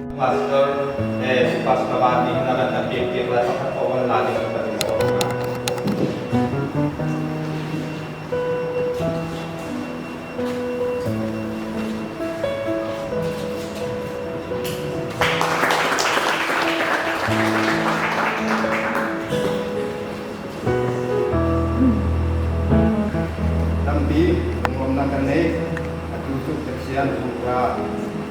Pastor eh Pastor Bani hna kan kan piak piak lai pakhat ko on la ni kan kan so hna. Tampi nuam nan kan nei atu suk Pathian tung ra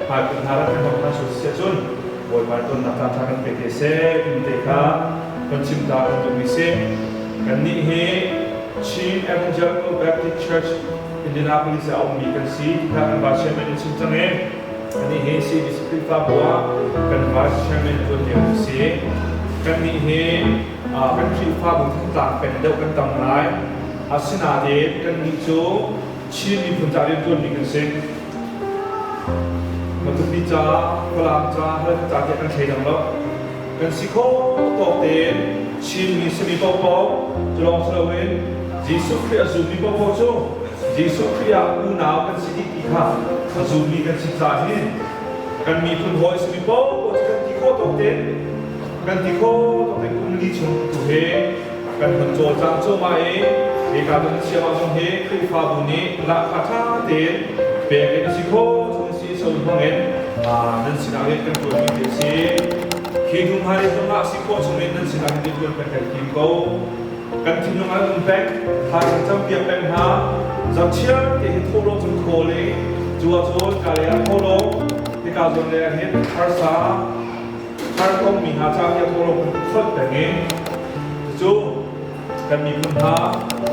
Hmaikhua hna rak kan hong hman sual si ahcun Bawipa tonnak caanṭha kan pek hi a seh timi te kha kan chimta kan duhmi si. Kannih hi Chin Evangelical Baptist Church Indianapolis ah a ummi kan si tiah kan vice chairman in chim cang i anih hi CDC Khrihfabu ah kan vice chairman a tuan lio a si. Kannih hi uh, kan Khrihfabu thongtlak peng deuh kan tam lai. Asinain kannih cu Chin miphun ca rianṭuanmi kan si. Matupi ca, Falam ca, Halkha ca te kan thei dang lo. Kan si khawh tawk tein Chinmi simi paohpaoh cu lawng si loin Jesuh Khrih a zummi paohpaoh cu Jesuh Khrih ah unau kan si dih ti kha a zummi kan si caah hi kan miphun hawi simi paohpaoh cu kan ti khawh tawk tein kan ti khawh tawk tein kum li chung tu he kan hun cawlcang cuahmah i hika kan siangah zong hi Khrihfabu nih lahka ṭha tein pek in si khawh chung si so hmangin nan sinah hin kan ṭuanmi hi a si khi hnu hna i hnu hna si khawh chungin nan sinah hin ṭuan kan kan tim ko kan thinlung an um pek thaizing campiak pek hna zam chiar te hi tholo cun khawl i cuwa cun ka le a tholo tika zon le hin harsa Harkommi hna ca i a tawlo kan fonh peng i cucu kan miphun hna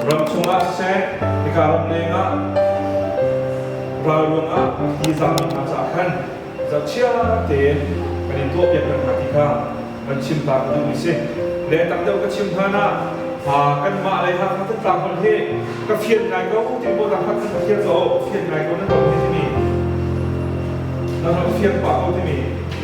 ram chungah siseh hika ram lengah ralruang ah hi zaangmi hna caah khan zohchia tein kan in tuahpiak kan hna ti kha kan chim ta ka duh i si le tam deuh ka chim hlan ah kanmah lei Hakha Thantlang holh hi ka fian ngai ko ti maw Hakha kan ka fian ko fian ngai ko nan ram hi timi nan ram fian pah ko timi